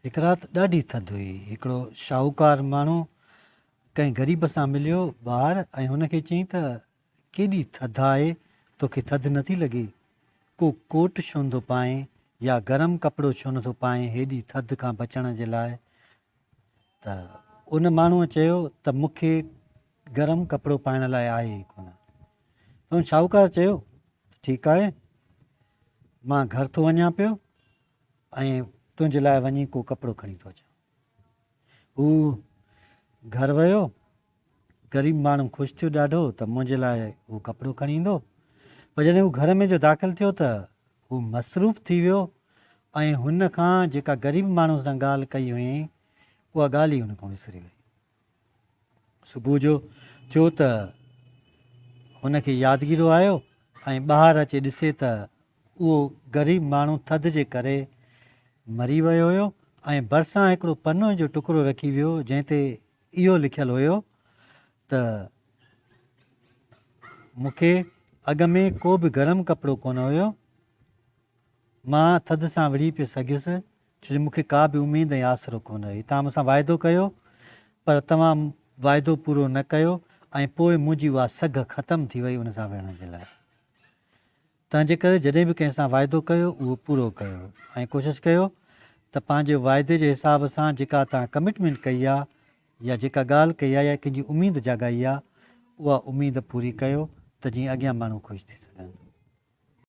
هڪ رات ڏاڍي ٿڌ هئي. هڪڙو شاهوڪار ماڻهو ڪنهن غريب سان مليو ٻاهر ۽ هن کي چيائين ته ڪيڏي ٿڌ آهي، توکي ٿڌ نه ٿي لڳي؟ ڪو ڪوٽ ڇو نٿو پائين يا گرم ڪپڙو ڇو نٿو پائين هيڏي ٿڌ کان بچڻ جي لاء؟ ته ان ماڻهوء چيو ته مون کي گرم ڪپڙو پائڻ لاء آهي ئي ڪونه. ته ان شاهوڪار چيو ته ٺيڪ آهي، مان گهر ٿو وڃان پيو. ۽ تنهنجي لاء وڃي ڪو ڪپڙو کڻي ٿو اچان. هو گهر ويو. غريب ماڻهو خوش ٿيو ڏاڍو ته منهنجي لاء هو ڪپڙو کڻي ايندو. پر جڏهن هو گهر ۾ جو داخل ٿيو ته هو مصروف ٿي ويو ۽ هن کان جيڪا غريب ماڻهو سان ڳالهه ڪئي هئائين، اها ڳالهه ئي هن کان وسري ويئي. صبح جو ٿيو ته هن کي يادگيرو آيو ۽ ٻاهر اچي ڏسي ته اهو غريب ماڻهو ٿڌ جي ڪري مري ويو هيو ۽ ڀرسان هڪڙو پنوهي جو ٽڪرو رکي ويو جنهن تي اهو لکيل هيو ته مون کي اڳ ۾ ڪو به گرم ڪپڙو ڪونه هيو مان ٿڌ سان وڙهي پئي سگهيس ڇو جو مون کي ڪا به اميد ۽ آسرو ڪونه هئي. توهان مون سان واعدو ڪيو، پر توهان واعدو پورو نه ڪيو ۽ پوء منهنجي اها سگهه ختم ٿي وئي ان سان وڙهڻ جي لاء. تنهنجي ڪري جڏهن به ڪنهن سان واعدو ڪيو، اهو پورو ڪيو ۽ ڪوشش ڪيو ته پنهنجي واعدي جي حساب سان جيڪا توهان ڪمٽمينٽ ڪئي آهي يا جيڪا ڳالهه ڪئي آهي يا ڪنهن جي اميد جاڳائي آهي، اها اميد پوري ڪيو ته جيئن اڳيان ماڻهو خوش ٿي سگهن.